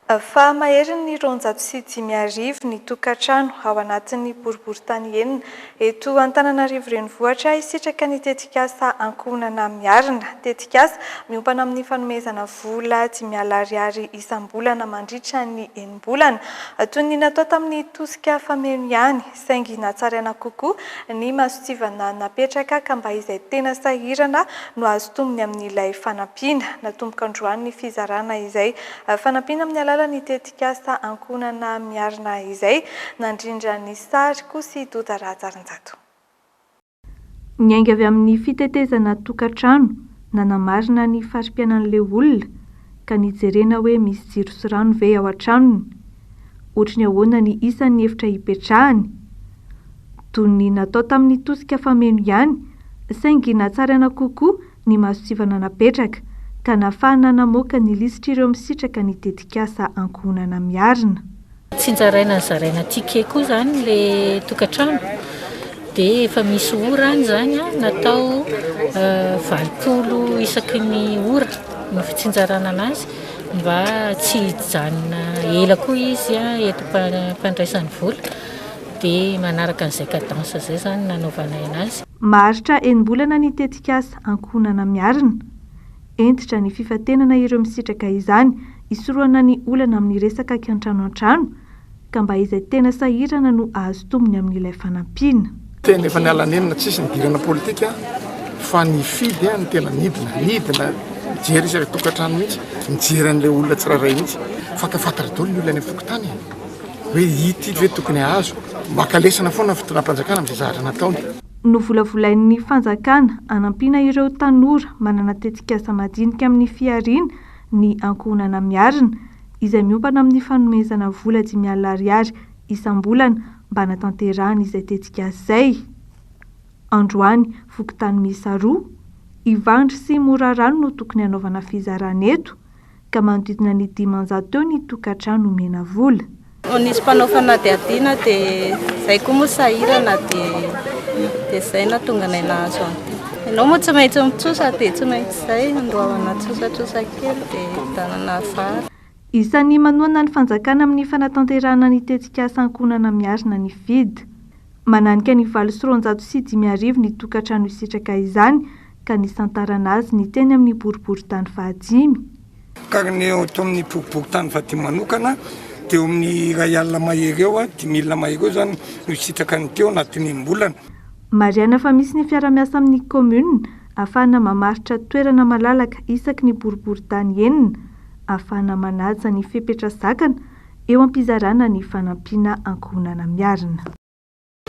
Fahamaherin'ny roanjato sy dimy arivo ny tokantrano ao anatin'ny boriborintany enina eto Antananarivo Renivohitra hisitraka ny tetikasa Ankohonana Miarina, tetikasa miompana amin'ny fanomezana vola dimy alina ariary isam-bolana mandritra ny enina. volana, toy ny natao tamin'ny tosika fameno ihany, saingy natsaraina kokoa ny mason-tsivana napetraka ka mba izay tena sahirana no azo tombony amin'ilay fanampiana. Natomboka androany ny fizarana izay fanampiana amin'ny alalan'ny tetikasa Ankohonana Miarina izay nandrindra ny sary koa sy Doda Rahajarinjato. Niainga avy amin'ny fitetezana tokantrano nanamarina ny fari-piainan'ilay olona ka nijerena hoe misy jiro sy rano ve ao an-tranony, ohatry ny ahoana ny isan'ny efitra hipetrahany. Dony natao tamin'ny tosika fameno ihany saingy natsaraina kokoa ny masontsivana napetraka ka nafahana namoaka ny lisitr'ireo misitraka ny tetikasa Ankohonana Miarina. Tsinjaraina zaraina ticket koa zany le tokatrano de efa misy ora any zany a natao valopolo isaky ny ora ny fitsinjarana anazy mba tsy hijanona ela koa izy a eto mpandraisany vola de manaraka an'izay cadence zay zany nanaovanay anazy. Maharitra enim-bolana ny tetikasa Ankohonana Miarina. Hentitra ny fifantenana ireo misitraka izany hisorohana ny olana amin'ny resaka kiantrano an-trano, ka mba izay tena sahirana no hahazo tombony amin'ilay fanampiana. Teny efa niala nenina tsisy nidirana politika fa nifidy no tena nidina, nidina nijery isaky tokantrano mihitsy, nijery an'ilay olona tsirairay mihitsy. Fatafatra daholo ny olona any am-pokontany e! hoe ity ve tokony hahazo? Maka lesona foana ny fitondram-panjakana amin'izay zavatra nataony. Novolavolain'ny fanjakana hanampiana ireo tanora manana tetikasa madinika amin'ny fihariana ny ankohonana Miarina, izay miompana amin'ny fanomezana vola dimy alina ariary isam-bolana mba hanatanterahany izay tetikasa izay. Androany, fokontany miisa roa, Ivandry sy Morarano no tokony hanaovana fizarana eto, ka manodidina ny dimanjato teo ny tokantrano omena vola. Ho nisy mpanao fanadihadiana dia izay koa moa sahirana dia dia izay natonganay nahazo an'ity. Ianao moa tsy maintsy mitsosa dia tsy maintsy izay andoavana tsosatrosa kely dia hividianana vary. Isan'ny manohana ny fanjakana amin'ny fanatanterahana ny tetikasa ankohonana miarina ny fid. Mananika ny valo sy roanjato sy dimy arivo ny tokantrano hisitraka izany ka nisantarana azy ny teny amin'ny boriborintany fahadimy. Kary ny eo ato amin'ny boriborintany fahadimy manokana dia eo amin'ny iray alina mahery eo, dimy milina mahery eo izany no hisitraka ny teo anatin'ny enim-bolana. Marihana fa misy ny fiara-miasa amin'ny kaominina ahafahana mamaritra toerana malalaka isaky ny boriborintany enina ahafahana manaja ny fepetra zakana eo am-pizarana ny fanampiana ankohonana miarina.